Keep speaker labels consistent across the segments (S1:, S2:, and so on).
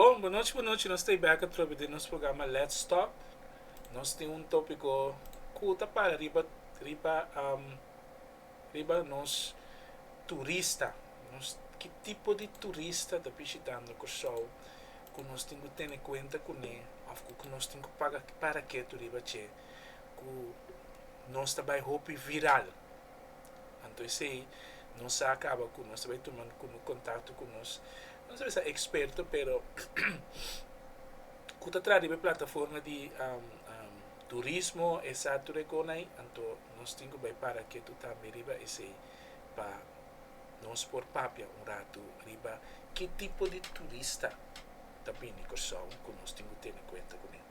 S1: Bon, bonochi bonochi, nos ta e bèk atrobe den nos programa Let's Talk. Nos tin un tópiko ku ta para riba riba riba nos turista, nos ki tipo di turista ta bishitando Kòrsou ku nos tin ku tene kuenta kuné òf ku ku nos tin ku paga para ketu riba dje ku nos ta bai hopi viral. Anto esei nos sa kaba ku nos ta bai tuma kontakto ku nos, no ta bisa eksperto, pero ku ta traha riba e plataforma di turismo e sa tur e konai, anto nos tin ku bai para ketu tambe riba esei pa nos por papia un ratu riba ki tipo di turista ta bini Kòrsou ku nos tin ku tene kuenta kuné.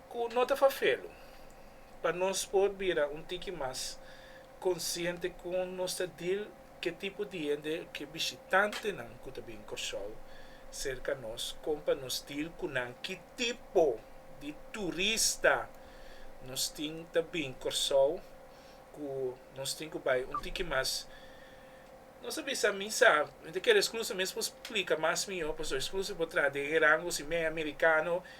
S1: Cu no ta fafelu pa nos por bira un tiki mas consciente con nos ta deal ke tipo di hende ke bishitantenan cu ta bin Corsou cerca nos con pa nos deal cu nan, ki tipo di turista nos tin ta bin Corsou cu nos tin cu bay un tiki mas nos ta bisa mi sa mi ta kere excluso mi es por splica mas mihor pasobra excluso por traha den herango si mi e americano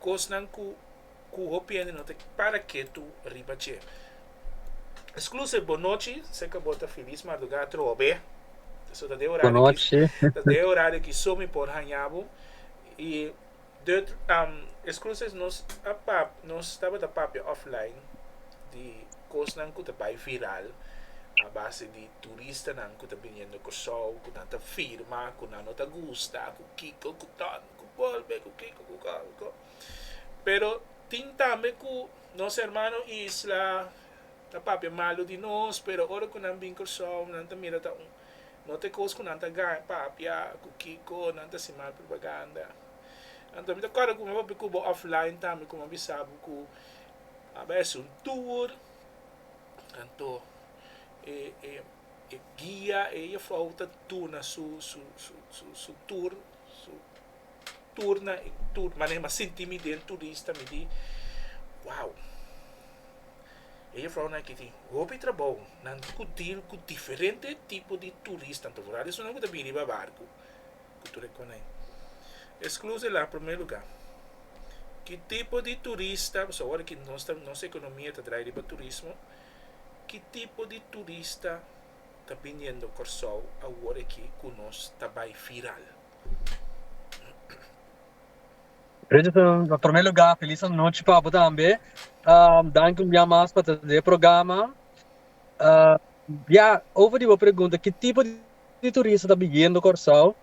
S1: kosnan ku ku hopi hende no ta para ketu riba dje. Exclusive bon nochi, se ke bo ta filis mardugá trobe, so ta den orario ki ta den orario ki so mi por haña bo i Dutch am Exclusive nos a pap nos tabata papia offline di kosnan ku ta bai viral a base di turistanan ku ta biniendo Kòrsou ku nan ta firma ku nan no ta gusta ku kiko ku tòn. ku golpe, ku kiko, ku kalko. Pero tin tambe ku nos hermano isla ta papia malu di nos, pero ora ku nan bin Kòrsou nan ta mira ta un no te kos ku nan ta gana papia ku kiko nan ta hasi mal propaganda. Anto mi ta kòrda ku mi a papia ku bo offline tambe ku mi a bisa bo ku a bai hasi un tur, anto e e e guia e yefou ta duna su su su tur. So tur na e tur manera m'a sinti mi den turista mi di wow e juffrounan aki tin hopi trabou nan ku deal ku diferente tipo di turistan ta wor esun nan ku ta bin riba barku ku tur e konai e skluze la prome luga ki tipo di turista pasobra awor aki nos ekonomia ta drai riba turismo ki tipo di turista. ta biniendo Kòrsou awor aki ku nos ta bai viral. Richardson, na promé lugá felis anochi pa bo tambe. Danki un bia mas pa ta den e programa. Ya, over di bo pregunta ki tipo di turista ta biniendo Kòrsou,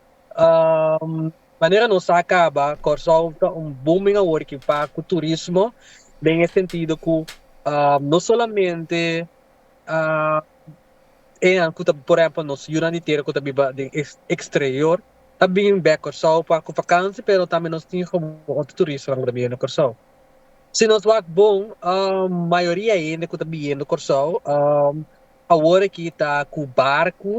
S1: manera nos sa kaba Kòrsou ta un booming awor aki pa ku turismo den e sentido ku no solamente Enan ku ta por ehempel nos yunan di tera ku ta biba den eksterior a bin bek Kòrsou pa ku vakansi pero tambe nos tin komo otro turistanan ku ta biniendo Kòrsou. Si nos wak bon mayoria hende ku ta biniendo Kòrsou awor aki ta ku barku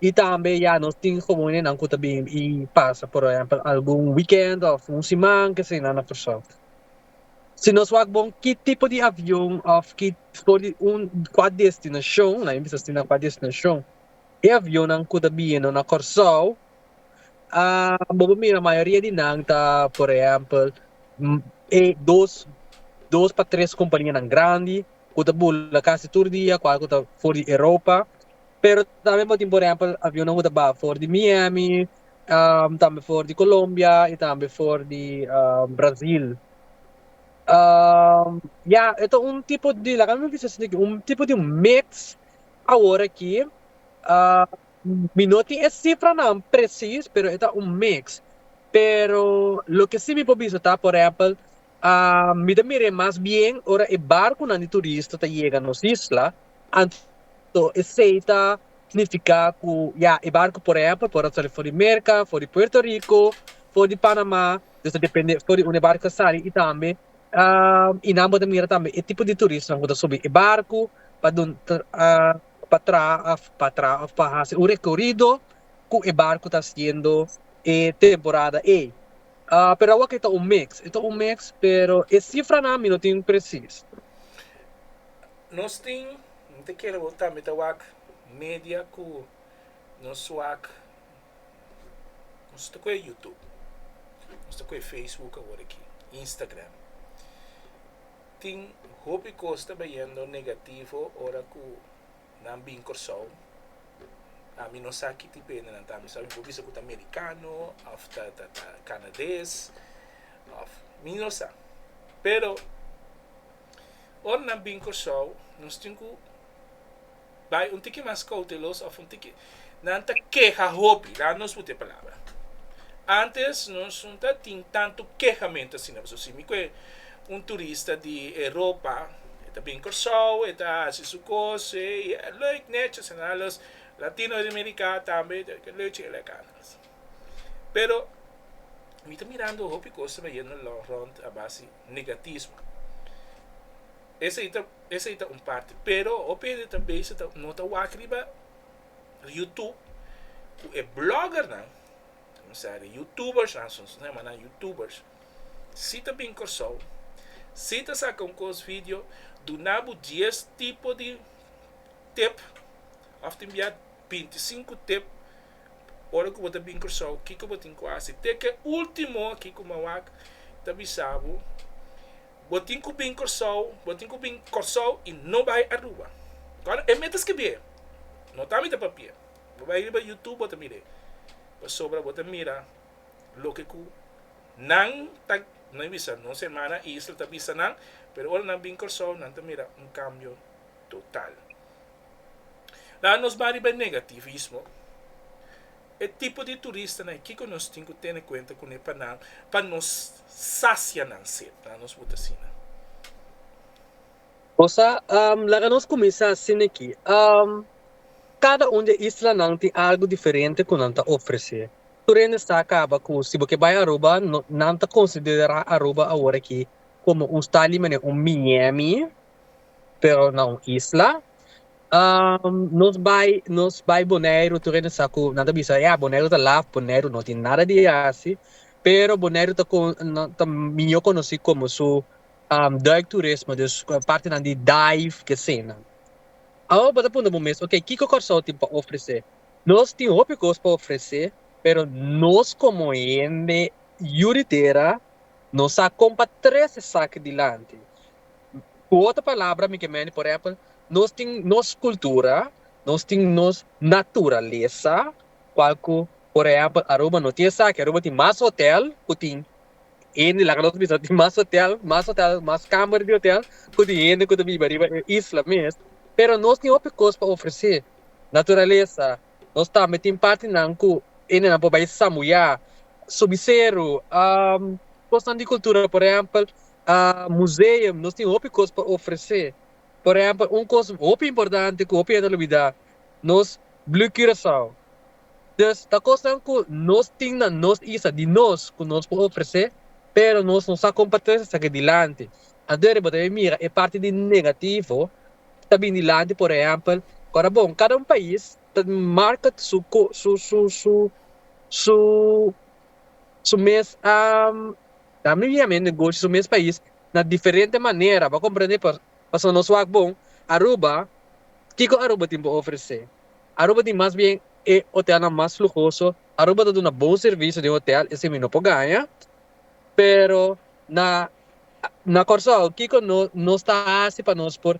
S1: i tambe ya nos tin komo nenan ku ta bin i pasa por ehempel algun wikènt òf un siman kesenan na Kòrsou. Si nos wak bon ki tipo di avion of ki for di un kua destinacion, laga mi bisa así na kua destinacion e avionnan cu ta bino na Corsou bo por mira mayoria di nan ta por ehempel e dos dos pa tres companianan grandi cu ta bula casi tur dia cual cu ta for di Europa pero tambe bo tin por ehempel avionnan cu ta baha for di Miami um tambe for di Colombia y tambe for di um Brasil um ya e ta un tipo di laga mi bisa si un tipo di mix awor aki um mi no tin e cifranan presis pero e ta un mix pero loke si mi por bisa ta por ehempel Mi ta mir'é mas bien ora e barkunan di turista ta yega nos isla, anto esei ta snifiká ku ya e barku por ehèmpel por a sali for di Merka, for di Puerto Riko, for di Panamá, dus ta dependé for di unda e barku ta sali i tambe i nan bo ta mira tambe e tipo di turistanan ku ta subi e barku pa dun pa traha pa traha òf pa hasi un rekorido ku e barku ta hasiendo e temporada ei. Pero awa ke ta un mix. E ta un mix pero e sifranan mi no tin presis. Nos tin, mi ta kere bo tambe ta wak media ku nos wak, nos ta koe youtube, nos ta koe facebook awor aki, instagram. Tin hopi kos ta bayendo negativo ora ku. Nan bin Kòrsou. Ami no sa ki tipo hende nan ta. Mi sabi bo bisa ku ta merikano òf ta kanades òf mi no sa. Pero ora nan bin Kòrsou nos tin ku bai un tiki mas koutelos òf un tiki Nan ta keha hopi, la nos puti e palabra. Antes nos no ta tin tantu kehamentu asina, pasobra si mi ku e un turista di Europa, e ta bini Kòrsou, e ta hasi su kos, e lòik nètjis en al, los latino di Meriká tambe ta bini lòik chikit lak andas. Pero mi ta mirando hopi kos ta bayendo lòk rònt a base negatismo. Esei ta, esei ta un parti, pero hopi hende ta bisa ta no ta wak riba YouTube cu e bloggernan, o sea de youtubers, nosotros no llaman youtubers, si ta bin Corsou, si ta saca un cos video, dunabo 10 tipo di tip, of tin bia 25 tip, ora cu bo ta bin Corsou, kico bo tin cu haci, te ke ultimo aki cu Mawak ta bisabo, Bo tin cu bin Corsou, bo tin cu bin Corsou y no bay Aruba. Cuando e mete scribie, no ta mete papier, bo bay riba YouTube bo ta mire, pasobra bo ta mira loke cu nan ta, nan bisa nos hermana Isla ta bisa nan, pero ora nan bin Corsou nan ta mira un cambio total. Laga nos baha riba e negativismo. E tipo di turistanan, kiko nos tin ku tene kuenta kuné pa nan, pa nos sasia nan set? Laga nos buta asina. Osa, laga nos kuminsá asina aki, Kada un di e islanan tin algu diferente ku nan ta ofresé. Tur hende sa kaba ku si bo ke bai Aruba, nan ta konsiderá Aruba awor aki komo un stad limanera un Miami. pero na un isla. Nos bai nos bai Boneiru tur hende sa ku nan ta bisa ya Boneiru ta laf, Boneiru no tin nada di yasi, pero Boneiru ta kon ta miño konosí komo su duikturismo dus partinan di dive kehseinan. Awo bo ta puntra bo mes okay kiko Kòrsou tin pa ofresé? Nos tin hopi kos pa ofresé pero nos komo hende yu di tera no sa kon pa trese esaki dilanti. Ku otro palabra mi ke mende por èpel nos tin nos kultura, nos tin nos naturalesa kual ku por ehèmpel Aruba no tin esaki, Aruba tin mas hotèl ku tin hende laga nos bisa tin mas hotèl mas hotèl mas kamber di hotèl ku tin hende ku ta biba riba e isla mes pero nos tin hopi kos pa ofresé naturalesa nos tambe tin partinan ku hendenan por bai sambuyá subi seru kosnan di kultura por ehèmpel a museum nos tin hopi cos pa ofrece por ehempel un cos hopi importante cu hopi hende a lubida nos blue curacao dus ta cosnan cu nos tin na nos isla di nos cu nos por ofrece pero nos no sa con pa trece esaki dilanti aden riba ta bian mira e parti di negativo cu ta bin dilanti por ehempel ora bon cada un pais ta marca su su su su. su mes a ta mihia men negoshi su mes pais na diferente manera bo a comprende por pasobra nos wak bon Aruba kiko Aruba tin por ofrece Aruba tin mas bien e hotelnan mas lujoso Aruba ta duna bon servicio den hotel esei mi no por gaña pero na na Kòrsou kiko nos nos ta hasi pa nos por.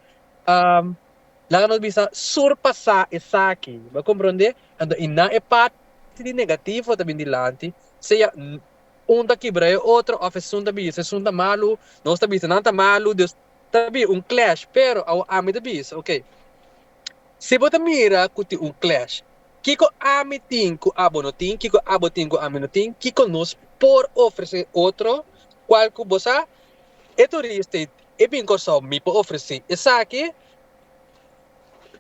S1: Laga nos bisa surpasá esaki. Bo a komprondé? Anto i na e parti di negativo ta bini dilanti, sea un ta kibra e otro òf esun ta bisa esun ta malu, nos ta bisa nan ta malu, dus ta habi un clash. Pero awor ami ta bisa, okay, si bo ta mira ku tin un clash, kiko ami tin ku abo no tin? Kiko abo tin ku ami no tin? Kiko nos por ofresé otro? Kual ku bo sa? E tur real estate E bin kosao mi por ofresí esaki,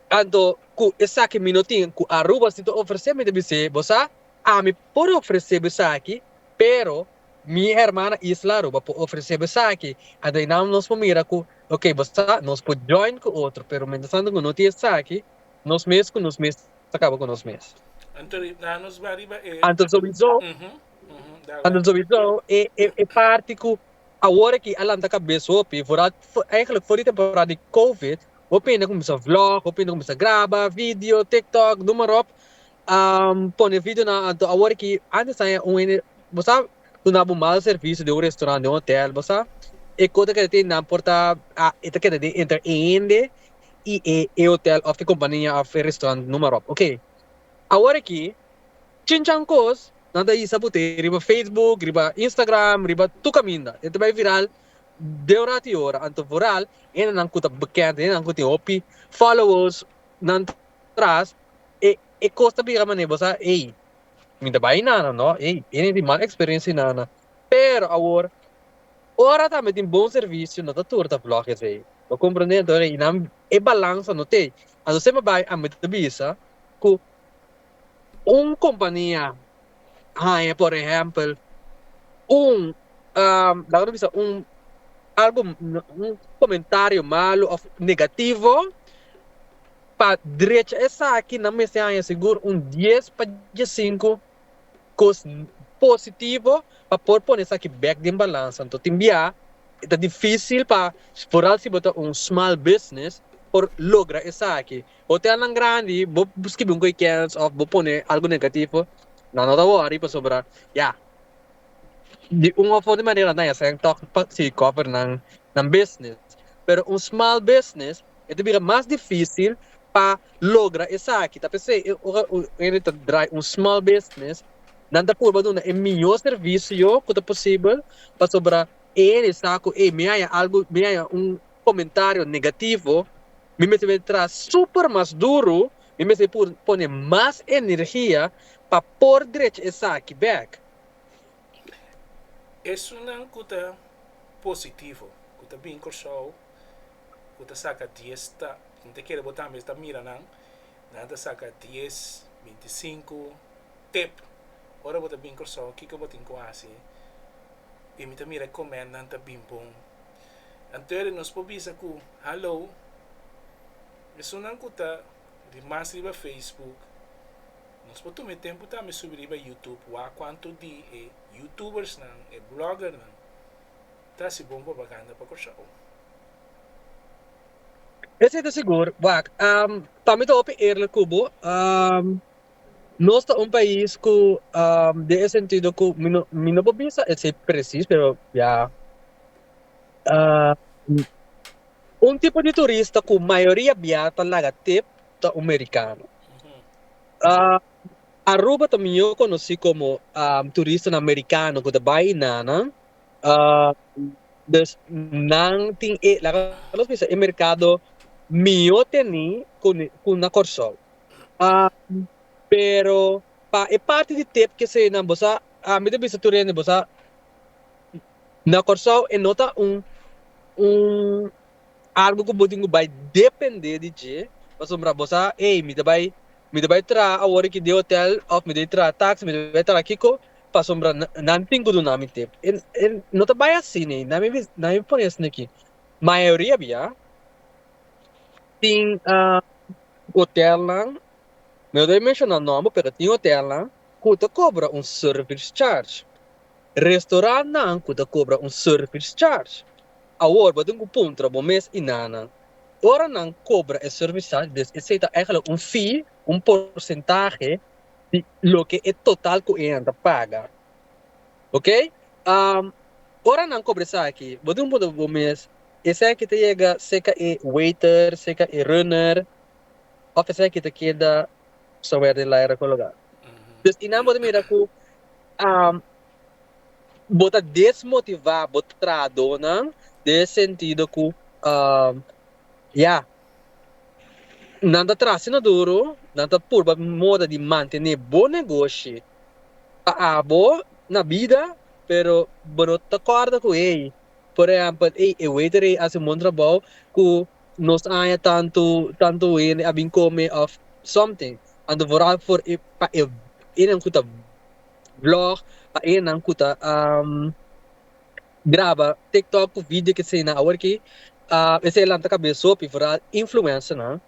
S1: anto ku esaki mi no tin ku Aruba si ta ofresé, mi ta bis'é bo sa, ami por ofresé bo esaki, pero mi hermana isla Aruba por ofresé bo esaki, anto i nan nos por mira ku ok bo sa nos por join ku otro, pero mientras tanto ku no tin esaki, nos mes ku nos mes ta kaba ku nos mes. Anto i nan nos bai riba e. Anto sowieso, anto sowieso e parti ku Awor aki a lanta kabes hopi voordat eigenlijk voor die temporada di covid hopi hende a cuminsa vlog, hopi hende a cuminsa graba video, tiktok, noem maar op, a pone videonan anto awor aki antes aña un hende bo sa duna bo mal servicio den un restaurant, den un hotel bo sa e ko ta keda tin nan por ta e ta keda den entre e hende y e hotel of e compania of e restaurant noem maar op, ok awor aki Chinchan kos nan ta hisa bu te riba Facebook, riba Instagram, riba tur kaminda. E ta bai viral den un ratu i ora, anto vooral hendenan ku ta bekend, hendenan ku tin hopi followers nan tras, e kos ta biga manera bo sa, ey, mi ta bai nana, no, ey, hende tin mal eksperensia i nana. Pero awor, ora tambe tin bon servisio no ta tur ta vlog esei, bo komprende? Entonces, i nan e balans anto tei, anto semper bai, ami ta bisa ku. Un kompania haña por ehèmpel un laga no bisa un algu un komentario malu òf negativo pa drecha esaki nan mester haña sigur un dies pa diesinku kos positivo pa por pone esaki bèk den balans anto tin bia i ta difísil pa foral si bo ta un small business por logra esaki. Hotelnan grandi, bo skibi un goeikens òf bo pone algu negatifo, nan no ta wòri pasobra ya di un òf otro manera nan a sèn tòg pa sigui kòver nan bisnis. Pero un small business e ta bira mas difísil pa logra esaki. Ta p'esei e ora un hende ta drai un small business nan ta purba duna e mihó servisio ku ta posibel pasobra e hende sa ku ey mi haya algu mi haya un. comentario negativo mi mester bay traha super mas duro, mi mester por pone mas energia pa por drecha esaki bek. Esunnan cu ta positivo cu ta bin Corsou cu ta saca dies ta mi ta kere bo tambe ta mira nan nan ta saca dies, binti i sinku tep ora bo ta bin Corsou kiko bo tin cu haci y mi ta mira e comment nan ta bin bon. Antoede nos por bisa cu Hallo, esunnan cu ta di mas riba Facebook, nos por tuma e tempo tambe subi riba Youtube, wak cuanto di e Youtubersnan, e Bloggernan ta haci bon propaganda pa Curaao. Esey ta sigur, wak. Tambe ta hopi eerlijk cu bo. Nos ta un pais cu den e sentido cu mi no por bisa esey precies pero ya un tipo di turista cu mayoria bia ta laga tep ta un mericano Aruba ta mior conoci como turistanan mericano cu ta bay y nanan dus nan tin e laga nos bisa e mercado mior teni cu na Corsou. Um, pero pa e parti di tep kesenan bo sa, ah, mi ta bisa tur hende bo sa, na Kòrsou e no ta un un algu ku bo tin ku bai dependé di dje, pasobra bo sa, ey, mi ta bai mi ta bai traha awor aki den hotèl òf mi ta bai traha taxi, mi ta bai traha kiko, pasobra na nan tin ku duna mi tep. E e no ta bai asina ei, nan mi nan mi pone asina aki, mayoria biba. Tin hotelnan, no ta menshona nòmber pero tin hotelnan ku ta kobra un service charge, restorantnan ku ta kobra un service charge. Awor bo tin ku puntra bo mes i nannan, ora nan kobra e service charge des esei ta eigenlijk un fee, un porsentahe di loke e total ku enan ta paga. Oke, ora nan kobra esaki bo tin ku puntra bo mes, Esaki ta yega seca e waiter, seca e runner, of esaki ta keda sawer den laira cu loga. Dus y nan bo ta mira cu bo ta desmotiva bo trahadonan den e sentido cu ya, nan ta traha asina duro, nan ta purba moda di mantene bo negoshi pa abo na bida, pero bo no ta corda cu ey. Por ehèmpel, ey, e waiter ey a hasi un bon trabou ku nos aña tantu, tantu hende a bin kome òf something. Anto vooral for e, pa e enan ku ta vlog, pa enan ku ta graba tiktok ku video ke siña nan awor aki, esei lanta kabes hopi, vooral influencernan.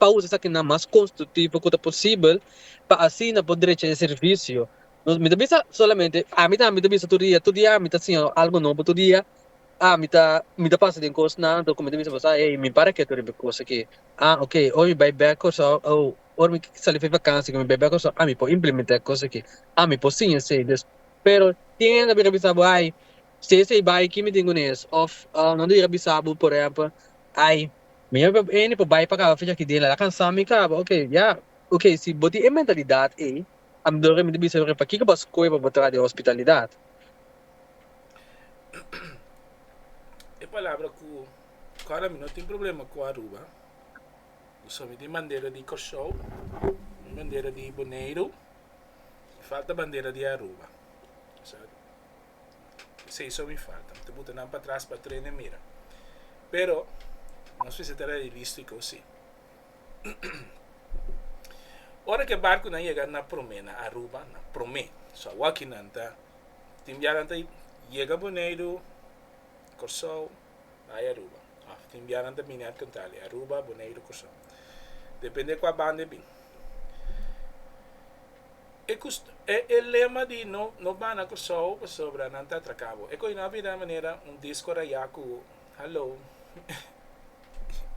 S1: pa usa esakinan mas konstruktivo ku ta posibel pa asina por drecha e servisio. Nos, mi ta bisa solamente, ami tambe ta bisa tur dia, tur dia ami ta siña algu nobo, tur dia ami ta mi ta pasa den kosnan, anto ku mi ta bisa boso, ah, ey, mi para ke tur riba e kos aki, ah, ok, ora mi bai bèk Kòrsou, oh, ora mi sali for e vakansia ku mi bai bèk Kòrsou, ah, mi por implementá e kos aki, ah, mi por siña esei. Des, pero tin hende ku a bisa bo, ay, si esei bai aki mi tin ku nes, òf, ah, nan ta yega bisa bo, por ehèmpel, ay, Mi a kòp Annie pa bai pa kaba fecha kidin el a la kansá mi kaba ok ya ok si bo tin e mentalidat ei a mi dor mi ta bisa yore pakiko bo a skohe pa bo traha den hospitalidat. E palabra ku kòrda mi no tin problema ku Aruba pasobra mi tin bandera di Kòrsou mi tin bandera di Boneiru mi falta bandera di Aruba. Seis so mi falta. Mi ta buta nan patras pa trena e mira. Pero nos mester ta realístiko si. Ora ku e barkunan yega na promé na Aruba, na promé, so awokinan ta, tin bianan ta yega Boneiru, Kòrsou, bay Aruba of tin biaha nan ta bini at Cantali, Aruba, Boneiru, Curaçao depende cua banda e bin. E cust e lema di no no bana Curaçao pasobra nan ta atraca bo e coyo nan a bira manera un disco raya cu halo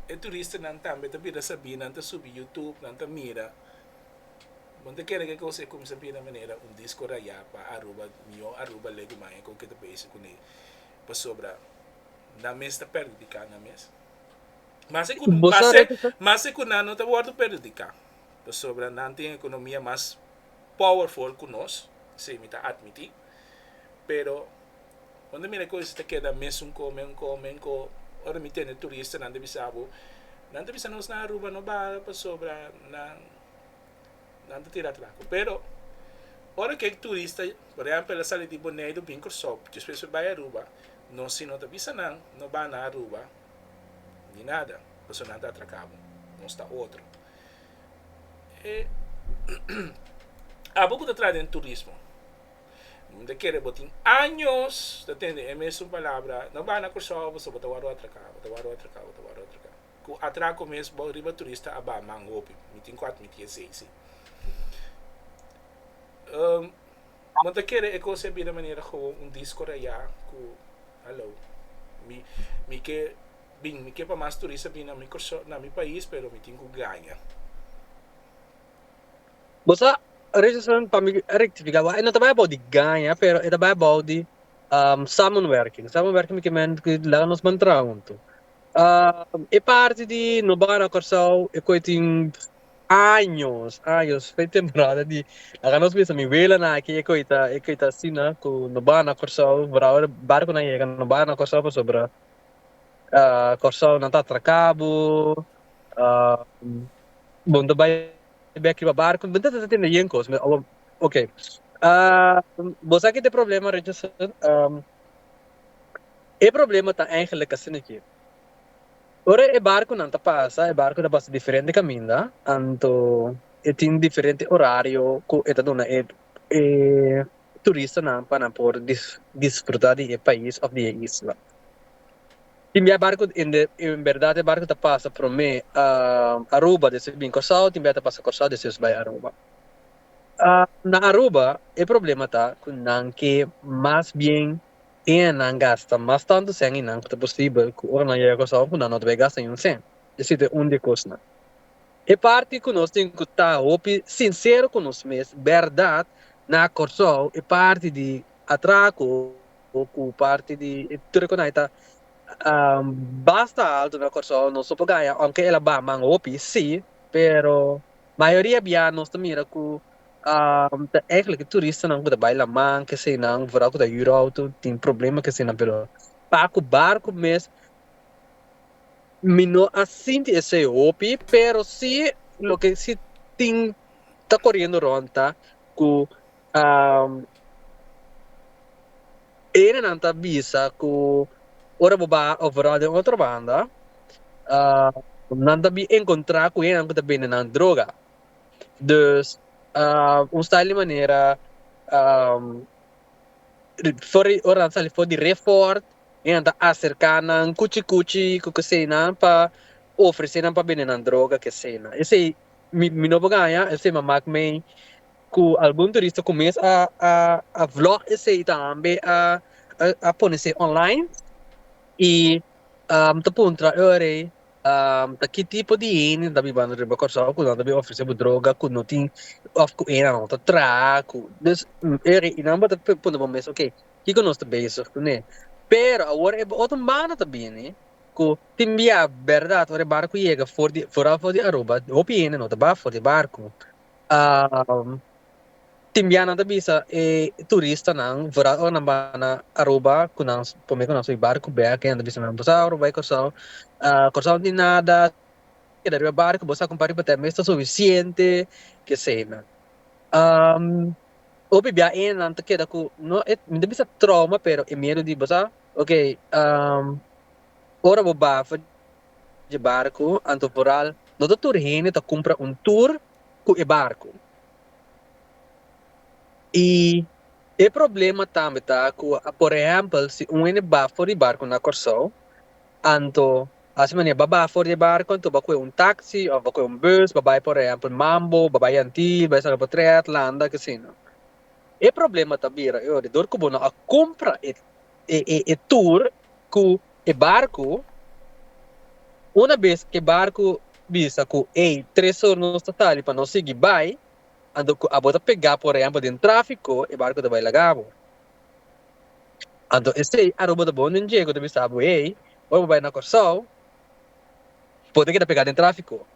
S1: e turistanan tambe ta bira sabi nan ta subi YouTube nan ta mira bon ta kere kico e cuminsa bira manera un disco raya pa Aruba miyor Aruba legu maya con kico ta basic cunei. pasobra nan mes ta perhudicá nan mes. Mas cu, mas cu nan no ta wordo perhudicá pasobra nan tin economia mas powerful cu nos, esey mi ta admití, pero bo ta mira cosnan ta keda mes un co, mes un co, mes un co, ora mi tende turistanan ta bisa bo, nan ta bisa nos na Aruba no baha pasobra nan. nan ta tira atrás cu pero ora kek turista por ehempel a sali di Boneido bin Cursao despues por bay Aruba nos si no ta bisa nan no ba na Aruba ni nada pasobra nan ta atraca bo nos ta otro e abo cu ta traha den turismo mi ta kere bo tin años ta tende e mesun palabra no ba na Cursao pasobra bo ta wor atraca bo ta wor atraca bo ta wor atraca. ku a traha ku mes bou riba turista a baha man hopi. Mi tin ku atmití esei sí. Bo ta kere e kos a bira manera gewoon un disko rayá ku Hallo. Mi mi ke bin, mi ke pa mas turista bin na mi Kòrsou, na mi pais, pero mi tin ku gaña. Bo sa, Richardson, pa mi rektifiká bo, e no ta bai abou di gaña, pero e ta bai abou di samenwerking. Samenwerking mi ke men ku laga nos mantra huntu. e parti di no bana Kòrsou e koe tin años años fai temporada di laga nos bisa mi welanan aki e koe ta e koe ta asina ku no bana Kòrsou barahu barkunan yega no bana Kòrsou pasobra Kòrsou nan ta atraka bo bo no ta bai bek riba barku bo no ta tende yen kos ok bo sa kit e problema Richardson. E problema ta eigenlijk asina ke. Ora e barkunan ta pasa, e barku ta pasa diferente kaminda, anto e tin diferente orario ku e ta duna e e turistanan pa nan por dis disfruta di e pais òf di e isla. Tin bia barku en de en berdad e barku ta pasa promé Aruba despues bin Kòrsou, tin bia ta pasa Kòrsou despues bai Aruba. Na Aruba e problema ta ku nan ke mas bien. Tin nan gasta mas tantu sen i nan ku ta posibel ku ora nan yega Kòrsou ku nan no ta bai gasta niun sen. E si ta e un di e kosnan. E parti ku nos tin ku ta hopi sinsero ku nos mes, bèrdat, na Kòrsou e parti di atrako ku parti di e tur e konai ta basta altu na Kòrsou nos lo por gaya ounke el a baha man hopi, si, pero mayoria biaha nos ta mira ku. ta eigenlijk e turistanan ku ta bai Laman, kesenan, vooral ku ta huur outo, tin problema kesenan, pero pa ku barku mes, mi no a sinti esei hopi, pero si loke si tin ta koriendo rònt ta ku erenan ta bisa ku ora bo baha overal den otro banda nan ta bin enkontrá ku hendenan ku ta bende nan droga. Dus, un style di manera for di ora nan sali for di re fort y nan ta acerca nan cuchi cuchi cu kesenan pa ofrece nan pa bende nan droga kesenan. Esey mi mi no por gana esey m'a mak mi cu algun turista cu mes a a a vlog esey y tambe a a pone esey online y mi ta puntra e ora ey ta ki tipo di hende ta bibando riba Kòrsou ku nan ta bin ofresé bo droga ku no tin òf ku hende nan ta traha ku dus i nan bo ta puntra bo mes okay kiko nos ta bezig kuné? Pero awor e otro banda ta bini ku tin bia bèrdat ora e barku yega for di foral for di Aruba hopi hende no ta baha for di barku. Tin bia nan ta bisa e turistanan wrà ora nan bai na Aruba ku nan promé ku nan sui barku bèk e nan ta bisa nan Bosau Aruba i Kòrsou Kòrsou no tin nada keda riba barku bo sa kumpa riba tè mes ta sufisiente keseinan. Hopi bia e nan ta keda ku no e mi ta bisa trouma pero e miedu di bo sa ok ora bo ba afuer dje barku anto foral no ta tur hende ta kumpra un tur ku e barku. Y e problema tambe ta cu por ehempel si un hende ba for di barco na Corsou anto a haci manera ba baha for di e barco anto ba coge un taxi of ba coge un bus ba bay por ehempel Mambo ba bay Antill ba bay San Robert-Tret Landa kesino e problema ta bira e ora dor cu bo no a cumpra e e e e tur ku e barku, una bes e barku bisa ku ey tres or nos ta sali pa no sigui bai, anto ku abo ta pegá por ehempel den tráfiko e barku ta bai laga abo. Anto esei Aruba ta bon den Diego ta bisa abo ey oi bo bai na Kòrsou bo ta keda pegá den tráfiko.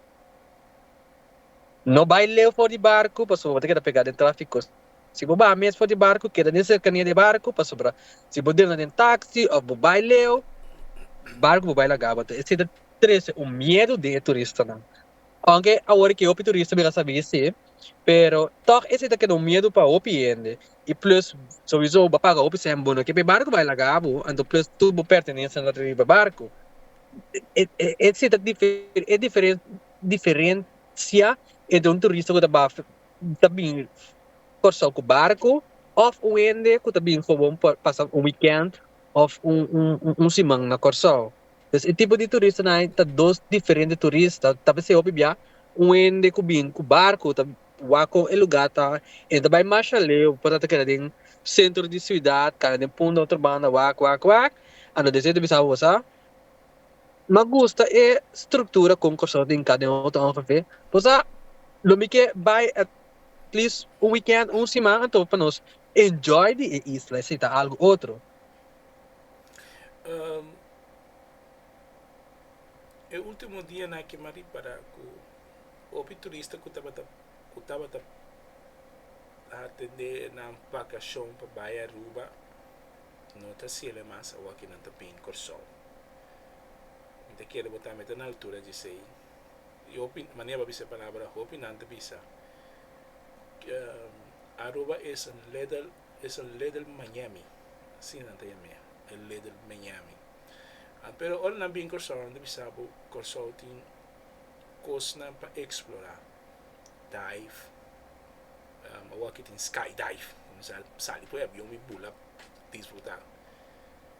S1: No bai leu for di barku pasobra bo ta keda pegá den tráfiko. Si bo baha mes for di barku, keda den serkania di e barku, pasobra si bo drenta den taksi òf bo bai leu, barku ku bo bai lagaba ta esei ta trese un miedu den e turistanan. Aunke awor ke hopi turista mira sa bisti, pero tòg esei ta keda un miedu pa hopi hende. I plus, sowiso bo a paga hopi sèn bo no ke pa e barku bai laga bo, anto plus tur bo pertenencia no ta riba e barku. Esei ta diferencia entre un turista ku ta baha ta bin Kòrsou ku barku òf un hende ku ta bin gewoon pa pasa un wikènt òf un un un siman na Kòrsou. Pues e tipo di turistanan ei ta dos diferente turista. Tal bes e hopi bia un hende ku bin ku barku ta wak ku e lugá ta e ta bai masha leu por ta keda den sentro di siudat, kanda den punta otro banda wak wak wak, anto di esei ta bisa awor sa. M'a gusta e struktura kon Kòrsou tin ka den otro ONGV. Por sa lo mi ke bai at least un wikènt o un siman anto pa nos enjoy di e isla e si ta algu otro. E ultimo dianan aki m'a ripará ku hopi turista ku tabata ku tabata atendé nan bakashon pa bai Aruba no ta hasiel e mas awor ki nan ta bini Kòrsou. Mi ta kere bo ta mete na altura djesei. I hopi, mane aba bisa e palabra, hopi nan ta bisa, Aruba es een little, es een little Miami. Asina nan ta yam'é, een little Miami. Pero ora nan bin Kòrsou, nan ta bisa bo, Kòrsou tin kosnan pa eksplorá. Dive, awor aki tin skydive, ku mi sa sali poi e avion mi bula. disfrutá.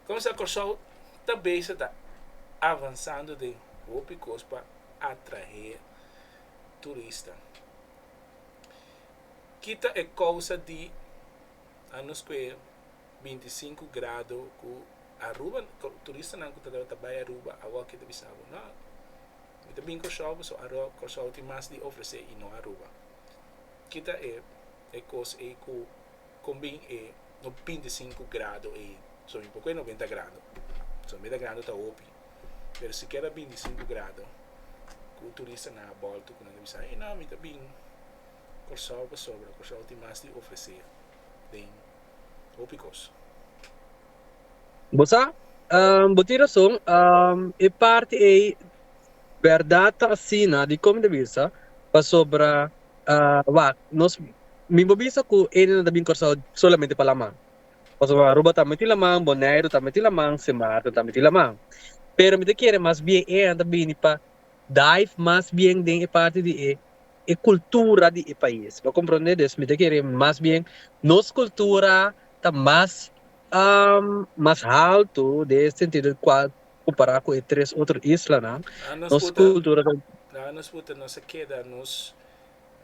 S1: Consa Kòrsou ta bese ta avansando den hopi kos pa atraé turista. Ki ta e kousa di anos kue binti i sinku grado ku Aruba, turistanan ku ta tabata bai Aruba awor ke ta bisa bo, No, mi ta bin Kòrsou pasobra Kòrsou tin mas di ofresé i no Aruba. Ki ta e E kos ei ku kon bin e no binti i sinku grado ei? So mi por ku e noventa grado. So noventa grado ta hopi. Pero sikier ta binti i sinku grado ku turistanan a bolto ku nan ta bisa ei no mi ta bin Kòrsou pasobra Kòrsou tin mas di ofresé den hopi kos. Bo sa, bo tin rason. E parti ei bèrdat ta asina, dikon mi ta bisa? Pasobra. Wak, nos, mi bo bisa ku Eni no ta bin Kòrsou solamente pa laman. Pasobra bo a Aruba tambe tin laman, Boneiru tambe tin laman, Sin Maarten tambe tin laman. Pero mi ta kere mas bien e eynan ta bini pa dive mas bien den e parti di e e kultura di e pais. Bo a komprondé? Des mi ta kere mas bien nos kultura ta mas mas haltu den e sentido di kual Compará cu e tres otro islanan, nos cultura ta. Nan nos puta nos a keda nos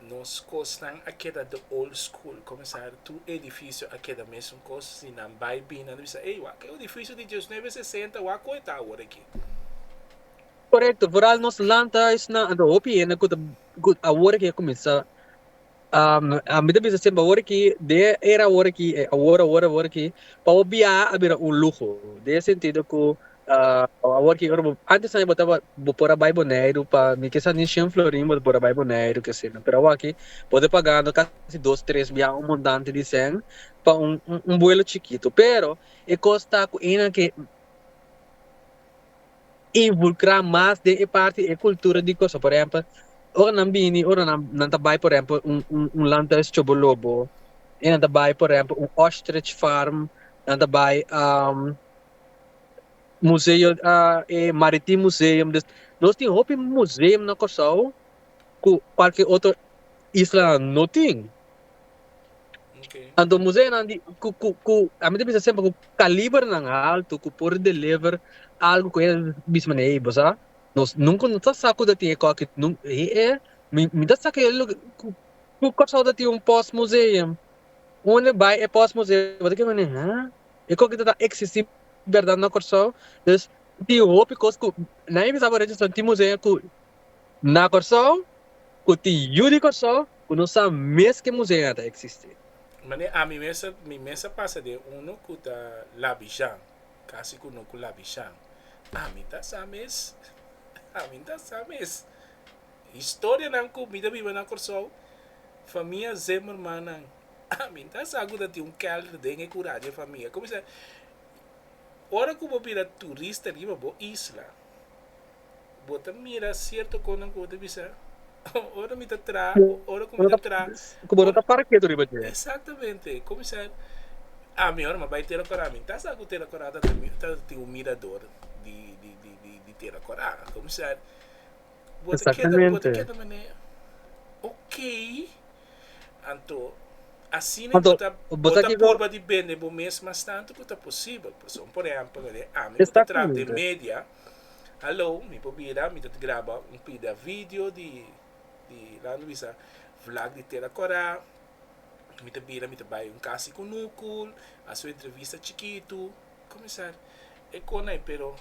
S1: nos cosnan a keda de old school comenzar tur edificio a keda mesun cos si nan bay bina nan bisa ey wak e edificio di diecinueve sesenta wak koe ta awor aki. Corecto vooral nos land huis nan a ta hopi hende cu ta cu awor aki a cuminsa. mi ta bisa semper awor aki den e era awor aki awor awor awor aki pa bo biaha a bira un luho den e sentido ku awor aki ora bo antes nan bo tabata bo por a bai boneiru pa mi kisa ni shen florin bo ta por a bai boneiru ke seylo pero awor aki bo ta pagando kasi dos tres biaha un montante di cen pa un un buelo chikito pero e kos ta ku eynan ke invulkrá mas den e parti e kultura di kosa por ehèmpel ora nan bini ora nan nan ta bai por ehèmpel un un un landhuis tjobolobo e nan ta bai por ehèmpel un ostrich farm nan ta bai museo e maritim museum dus nos tin hopi museum na Kòrsou ku kualke otro islanan no tin Anto museanan di ku a mi ta bisa semper ku kalibernan altu ku por deliver algu ku e misma na e bo sa nos nunka no ta sa ku ta tin e koki mi ta sa kila loke ku Kòrsou ta tin un pos museum unda e bai e pos museum bo ta keda wende ha e koki ta eksisti bèrdat na Kòrsou tin hopi kos ku nadie bisa bo rechasá tin museum ku Na Kòrsou, ku tin yu di Kòrsou, ku no sa mes ke museu a ta eksistí. Mane ami mes, mi mes a pasa den unu ku ta labijan, kasi ku no ku labijan. Ami ta sa mes. Ami ta sa mes. Historianan ku mi ta biba na Kòrsou, famia Zimmermannan, ami ta sa ku ta tin un kèlder den e kura di e famia. Kumisa, ora ku bo bira turista riba bo isla. Bo ta mira sierto kosnan ku bo ta bisa, ora mi ta traha, o ora ku mi ta traha. Ku bo no ta para ketu riba dje. Exactamente. Kuminsá, ami ora mi a bai Tera Korá, mi ta sa ku Tera Korá ta tin un mirador di, di, di, di Tera Korá. Kuminsá, bo ta keda, bo ta keda manera, ok, anto, asina bo ta, bo ta purba di bende bo mes mas tantu ku ta posibel. Pasobra, por ehèmpel, ami ku ta traha den media. Hallo, mi por bira, mi ta graba un pida video di di Lando bisa vlag di Tera Kora, mi ta bira mi ta bai un kas di kunukul, hasi un entrevista chikitu, kuminsar e kona ei pero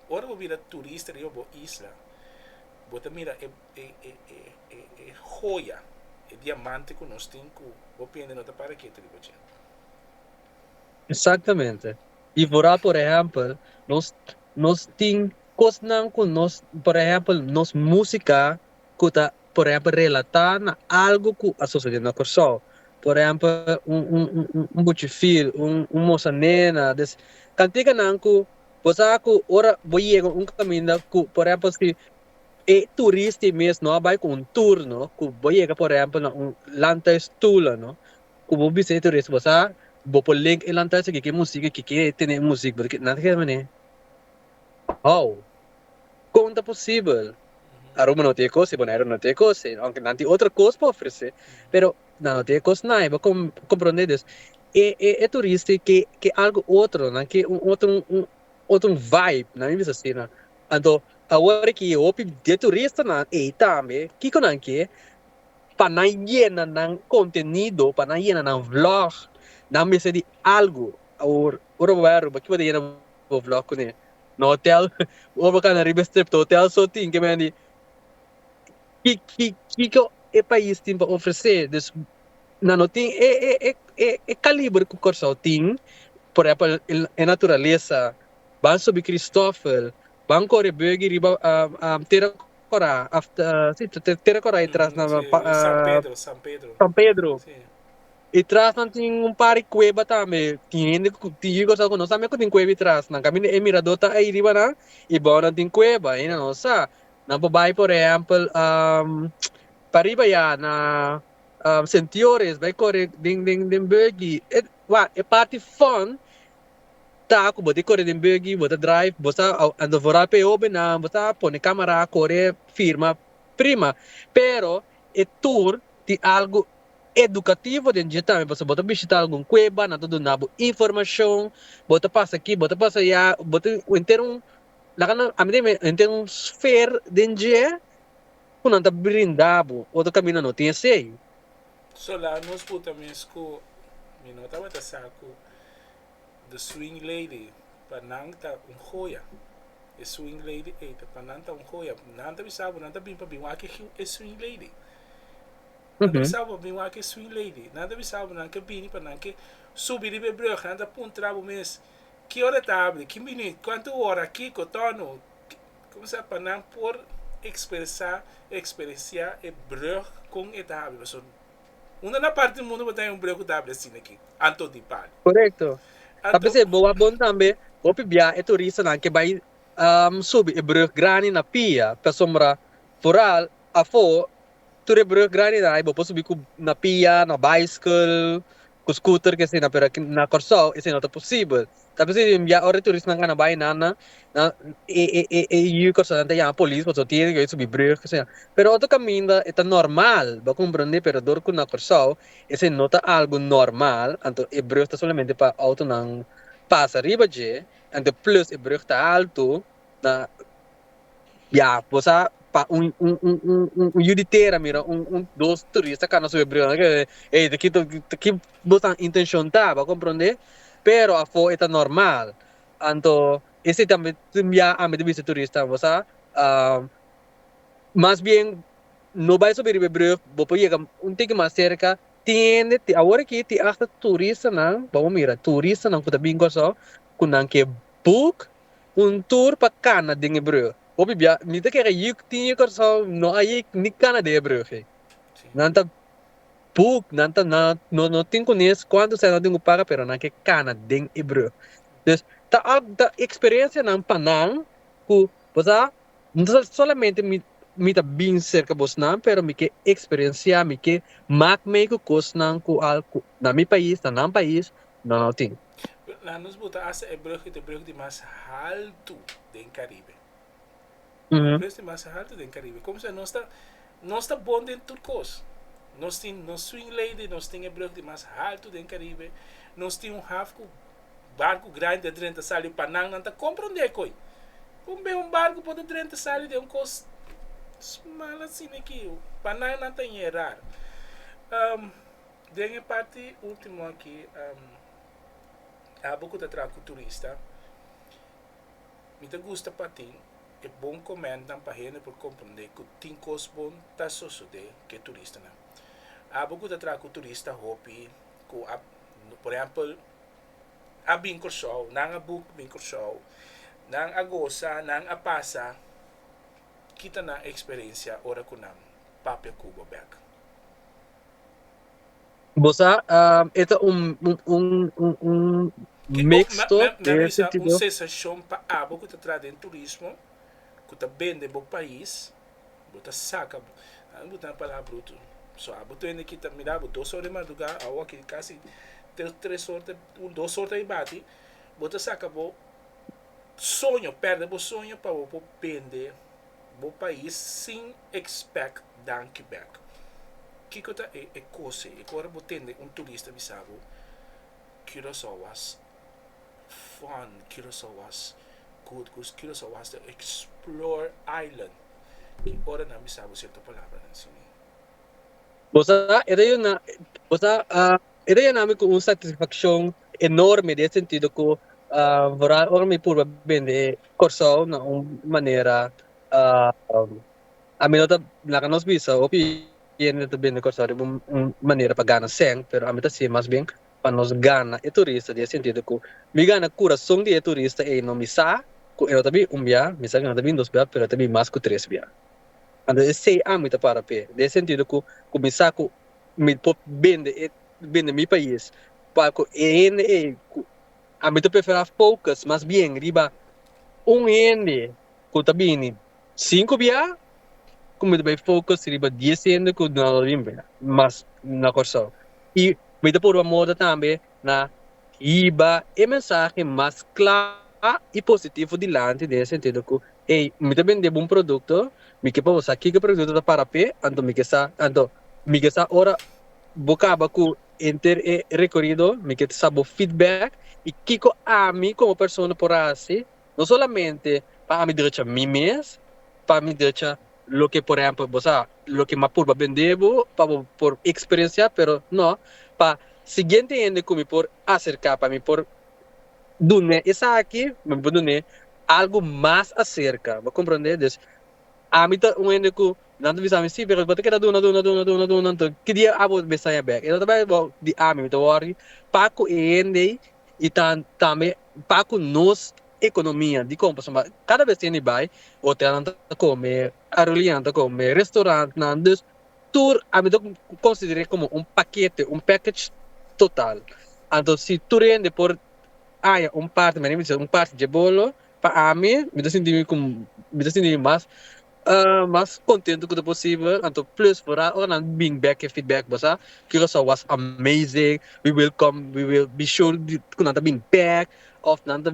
S1: ora bo bira turista riba bo isla bo ta mira e e e hoya, e diamante ku nos tin ku bo piensa no ta para ketu riba dje. Exactamente. Di vorá por ehèmpel, nos nos tin kosnan ku nos por ehèmpel nos músika ku ta por ehèmpel relatá na algu ku a sosodé na Kòrsou. Por ehèmpel un un un un buchi fil un un mosa nena des kantika nan ku bo sa ku ora bo yega un kaminda ku por ehèmpel si e turista ei mes no a bai ku un tur no ku bo yega por ehèmpel na un Landhuis Tula no Cu bo bisa e teoria si bo sa bo por link e lanta esaki ke music e kike e tene e music bo ta keda nada ke mane how con ta posibel Aruba no tin e cos y Bonaire no tin e cos aunke nan tin otro cos pa ofrece pero nan no tin e cos nai bo comprende dus e e e turista y ke ke algo otro nan ke un otro un otro vibe nan mi bisa asina anto awor aki hopi den turistanan ey tambe kico nan ke pa nan yena nan contenido, pa nan yena nan vlog, nan mester di algo. Awor, ora bo bai Aruba, kico bo ta yena bo vlog cu ne? Na hotel? Ora bo cana riba e strip ta hotel so tin ke men di. Ki, ki, kico e pais tin pa ofrece? Dus, nan no tin e, e, e, e, e caliber cu Corsou tin, por ehempel e naturalesa, ban subi Christofel, ban core buggy riba, am, am, tera. Kòrá, after, sí, ta te tera Kòrá i tras na San Pedro, San Pedro, San Pedro, sí, i tras nan tin un par di kueba tambe, tin hende ku tin yu konsèu ku no sabia ku tin kueba i tras nan, kaminda e miradó ta ei riba nan i bou nan tin kueba i nan no sa, nan por bai por ehèmpel pa riba ya na Sint Joris bai kore den den den buggy, wak, e parti fòn. Ta cu bo di core den buggy, bo ta drive, bo sta a devora p'e hobennan, bo ta pone camera a core firma, prima. Pero e tour tin algo educativo den dje tambe, pasobra bo ta bishita algun cueba, nan ta duna bo informacion, bo ta pasa aki, bo ta pasa ayá, bo tin henter un, laga nan, ami ta yama e henter un sfer den dje cu nan ta brinda bo, otro caminda no tin asey. Sola nos por ta mes cu, mi no tabata sa cu The Swing Lady pa nan ta un joya. E Swing Lady ey ta pa nan ta un joya. Nan ta bisa bo nan ta bin pa bin wak e Swing Lady. Nan ta bisa bo pa bin wak e Swing Lady. Nan ta bisa bo nan ke bini pa nan ke subi riba e brug. Nan ta puntra bo mes, Ki ora ta abri? Kin bini? Cuantu ora? Kico? Tono? Kumsa pa nan por ekspresá, eksperensiá e brùg kon e ta habri. Pasobra un di nan parti di mundu bo ta haya un brùg ku ta habri asina aki, anto di palo. Korekto. Ta Anto. p'esei bo a bon tambe bo pibia e turistanan ke bai subi e brùg grandi na pia, pasobra foral afó Tur e brug grandi na hay bo por subi cu na pia, na bicycle, cu scooter que asina pero aki na Corsou esey no ta posibel. Ta cu si ya ora e turistanan a na bay nan nan nan e e e e yu corsounan ta yama polis pasobra bo tiene cu bay subi brug asina. Pero otro caminda e ta normal bo a comprende pero dor cu na Corsou esey no ta algo normal anto e brug ta solamente pa autonan pasa riba dje anto plus e brug ta alto. Na ya bo sa pa un un yu di tera mira un un dos turista ka na su hebreos na keda ey ta kito ta ki bo ta intencion ta bo a comprende pero afo eta normal anto ese tambe ya ami ta bisa turista bo sa mas bien no bai sobi riba hebreos bo por yega un tiki mas cerca tiende te awor aki te asta turistanan bo a mira turistanan ku ta bin Kòrsou ku nan ke book. Un tur pa kana den hebreo. Hopi bia mi ta kere yik tin yik Kòrsou no a yik ni kana den hebreo fe. Nan ta buk, nan ta na no no tin kunes kuantu sèn nan den ku para pero nan ke kana den hebreo. Des ta algu ta eksperensianan pa nan ku bo sa no ta solamente mi mi ta bin serka bos nan pero mi ke eksperensiá mi ke mak mei ku kosnan ku al ku na mi pais na nan pais No no tin. Nan nos bo ta hasta e brug it e brug di mas haltu den Caribe. E brug di mas haltu den Caribe. Como sa nos ta nos ta bon den tur cos. Nos tin nos swing lady, nos tin e brug di mas haltu den Caribe, nos tin un haf cu barcu grandi a drenta sali pa nan. Nan ta comprende coi con be un barcu por ta drenta sali den un cos smal asina aquí. Pa nan nan ta ñe rar. Den e parti ultimo aki, abo ku ta traha ku turista, mi ta gusta pa tin e bon komèntnan pa hende por komprondé ku tin kos bon ta sosodé ku e turistanan. Abo ku ta traha ku turista hopi ku a, por ehèmpel, a bin Kòrsou, nan a buk bin Kòrsou, nan a gosa, nan a pasa, kita nan eksperensia ora ku nan papia Cuba bèk. Bo sa e ta un mixto den e sentido. Kiko na bisa un sensashon pa abo ku ta traha den turismo, ku ta bende bo pais, bo ta saka bo a mi bo ta na palabra bruto. So abo ta bini aki ta mira abo dos or di madruga, awo aki kasi tres or, un dos or ta bati, bo ta saka bo soño, perde bo soño pa bo por bende. Bo pais sin expect danki back. Kiko ta e e kose e ku ora bo tende un turista bisa bo Curacao was fun, Curacao was good, Curacao was the explore island ki ora nan bisa bo sierto palabranan sini. Bo sa e ta yuna bo sa a E ta yena mi ku un satisfakshon enorme den e sentido ku vooral ora mi purba bende Kòrsou na un manera ami no ta laga nos bisa hopi hende ta bende Kòrsou riba un manera pa gana sèn pero ami ta si mas bien pa nos gana e turista den e sentido ku mi gana kurason di e turista einan mi sa ku e no ta bin un bia mi sa ku e no ta bin dos bia pero e ta bin mas ku tres bia anto esei ami ta para p'e den e sentido ku mi sa ku mi por bende e bende mi pais pa ku e hende ei ku a mi ta preferá focus mas bien riba un hende ku ta bini sinku biaha ku mi ta bai focus riba dies hende ku duna lo bin biaha mas na Kòrsou i mi ta por bo a moda tambe na hiba e mensahe mas kla i positivo dilanti den e sentido ku, Ey, mi ta bendé bo un produkto, mi ke pa bo sa kiko e produkto ta para p'e, anto mi ke sa, anto mi ke sa ora bo kaba ku henter e rekorido mi ke sa bo feedback i kiko ami komo persona por hasi. no solamente pa ami drecha mi mes, pa mi drecha loke por ehempel bo sa loke m'a purba bende bo pa bo por eksperensiá pero no pa siguiente hende ku mi por aserká pa mi por dun'é esaki pa mi por dun'é algu mas aserka bo komprendé des ami ta un hende ku nan ta bisa mi si pero bo ta keda duna duna duna duna duna enton ki dia abo mester saña bek i lo ta bai di ami mi ta wòri pa ku e hende ei i ta tambe. pa cu nos economia dicon pasobra cada bes hende bay hotelnan ta come aerolineanan ta come restaurantnan dus tur ami ta considere como un paquete un package total anto si tur hende por haya un parti manera mi ta sibi un parti dje bolo pa ami mi ta sinti mi cu mi ta sinti mi mas Mas contento cu ta posibel, anto plus vooral ora nan bring back e feedback bo sa, Curaçao was amazing, we will come, we will be sure di cu nan ta bring back, of nan ta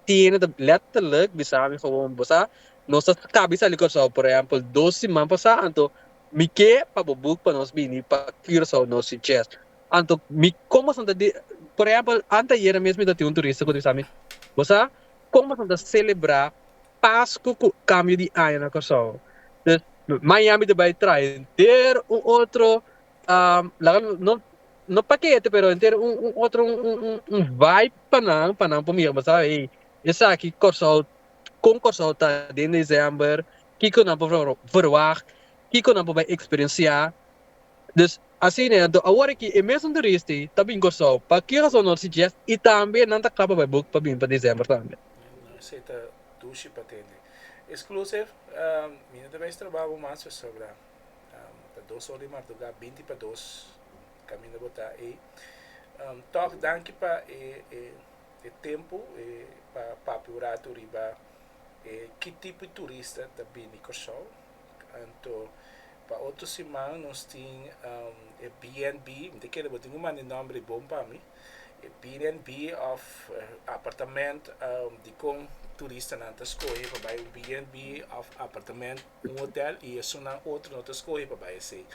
S1: tiene ta letterlijk bisami gewoon bo sa nos ta cabe sali Curaçao por ehempel dos siman pasa anto mi ke pa bo boek pa nos bini pa Curaçao nos succes anto mi como astan ta di por ehempel anteayer mesmo mi ta tin un turista cu ta bisami bo sa como astan ta celebra. Pasku ku kambio di aña na Kòrsou. Pues Miami ta bai traha henter un otro laga no no pakete pero henter un un otro un un un un vibe pa nan pa nan por mira kobasa ey esaki Kòrsou kon Kòrsou ta den December kiko nan por verwagt kiko nan por bai eksperensiá. Dus Asina do awor aki e mesun turisti ta bin Kòrsou pa ki rason nor si Jeff i tambe nan ta kapa bai buk pa bin pa December tambe. Esei ta dushi pa tende. Exclusive, Mi no ta mester roba bo mas pasobra ta dos or di marduga, binti pa dos, kaminda bo ta ei. Tòg danki pa e tempu pa papia un ratu riba ki tipo di turista ta bini Kòrsou. Anto pa otro siman nos tin e BNB, mi ta kere bo tin un manda e nomber bon pa mi, e BNB of apartament dikon turistanan ta skohe pa bai un BNB of apartament un hotel y esunnan otro no ta skohe pa bai esey.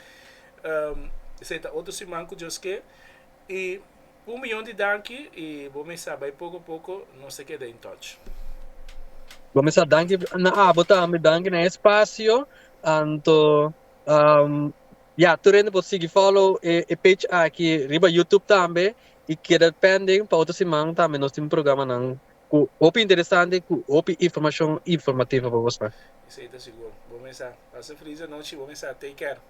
S1: Esey ta otro siman ku Dios ke y Un miyon di danki i bo mesa bai poko poko nos a keda in touch. Bo mesa danki na abo tambe danki na e spasio anto ya tur hende por sigui follow e page aki riba youtube tambe i keda pending pa otro siman tambe nos tin programanan ku hopi interesante ku hopi informashon informativo pa bo spa. Esei ta sigur bo mesa pasa fris anochi bo mesa take care.